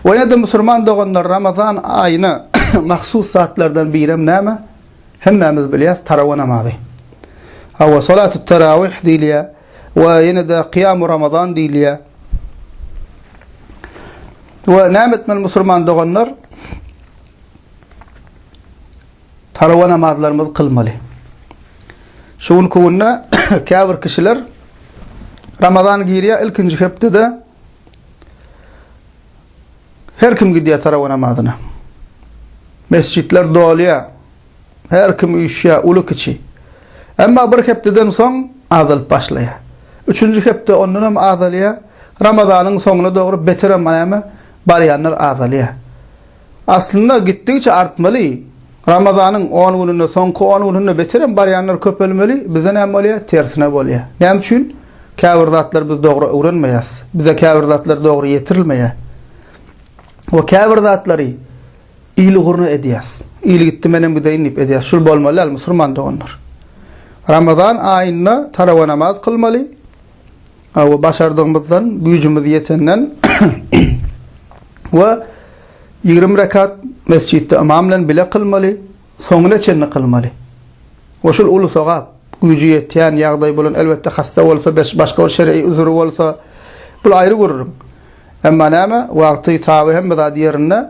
Ve ya da musulman doganlar Ramazan ayına mahsus zatlardan birem näme? Hemmemiz bilýäs tarawa namazy. Hawa salatu tarawih diýilýär we ýene de kıyam Ramazan diýilýär. Ve näme etmeli musulman doganlar? Tarawa namazlarymyzy kylmaly. Şu günki günde käbir kişiler Ramazan girýär ilkinji hepdede her kim gidýär tarawa namazyna. Mesjitler dolýar. Her kim üýşýär, uly kiçi. Emma bir hepdeden soň azalyp başlaýar. Üçünji hepde ondan hem azalýar. Ramazanyň soňuna dogry beter hem näme barýanlar azalýar. Aslynda gitdigiçe artmaly. Ramazanyň on gününde, soňky on gününde beterem barýanlar köpelmeli, bizde näme bolýar? Tersine bolýar. Näme üçin? Käbir zatlary biz dogry öwrenmeýäs. Bize käbir zatlar dogry ýetirilmeýär. We käbir zatlary il ugruna edýäs. Il gitdi menem gideýin diýip edýäs. Şul bolmaly däl musurman doganlar. Ramazan aýynda tarawa namaz kylmaly. we başardygymyzdan, güýjümiz ýetenden we ýigrimi rekat mesjitde ymam bilen bile kylmaly, soňuna çenli kylmaly. We şul uly sogap, güýji ýetýän, ýagdaýy bolan, elbetde, hassa bolsa, başga bir şer'i uzry bolsa, bul aýry gürrüň. Emma näme, wagty, taby hemme zat ýerinde.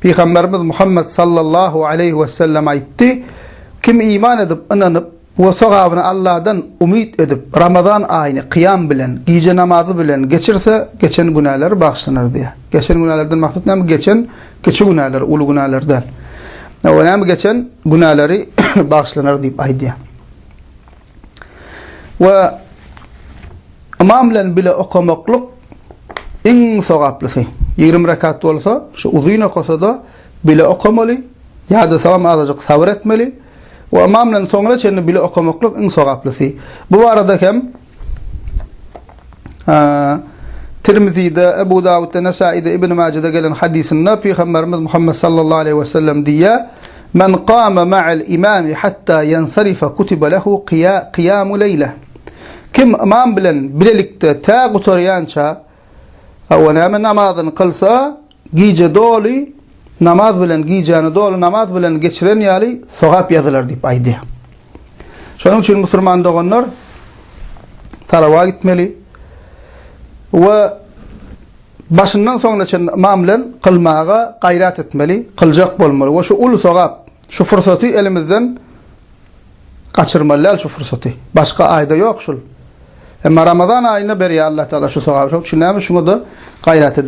Pygamberimiz Muhammet sallallahu aleýhi wesellem aýtdy, Kim iman edip, ynanyp we sogabyny Alladan umyt edip, Ramazan aýyny kyýam bilen, gije namazy bilen geçirse, geçen günäleri bagyşlanar diýýär. Geçen günälerden maksat näme? Geçen kiçi günäler, uly günäler däl. Näme geçen günäleri bagyşlanar diýip aýdýar. we ymam bilen bile okamaklyk iň sogaplysy. Ýigrimi rekat bolsa, şu uzyn okasa-da, bile okamaly, ýadasagam azajyk sabyr etmeli we ymam bilen soňra çenli bile okamaklyk iň sogaplysy. Bu barada hem Tirmizide, Ebu Dawudda, Nesaide, Ibn Majede gelen hadysynda Pygamberimiz Muhammed sallallahu aleýhi we sellem diýýär, Men kama ma'al imami hatta yansarifa kutiba lehu kiyamu leýle. Kim ymam bilen bilelikde tä gutarýança, hawa näme, namazyny kylsa, gije doly namaz bilen, gijäni doly namaz bilen geçiren ýaly sogap ýazylar diýip aýdýar. Şonuň üçin musulman doganlar talawa gitmeli we Başyndan soňuna çenli ymam bilen kylmaga gaýrat etmeli, kyljak bolmaly we şu uly sogap, şu pursaty elimizden gaçyrmaly däl şu pursaty. Başga aýda ýok şul. Emma Ramazan aýynda berýär Alla Taala şu sogaby. Şoň üçin näme şuňa-da gaýrat edeliň.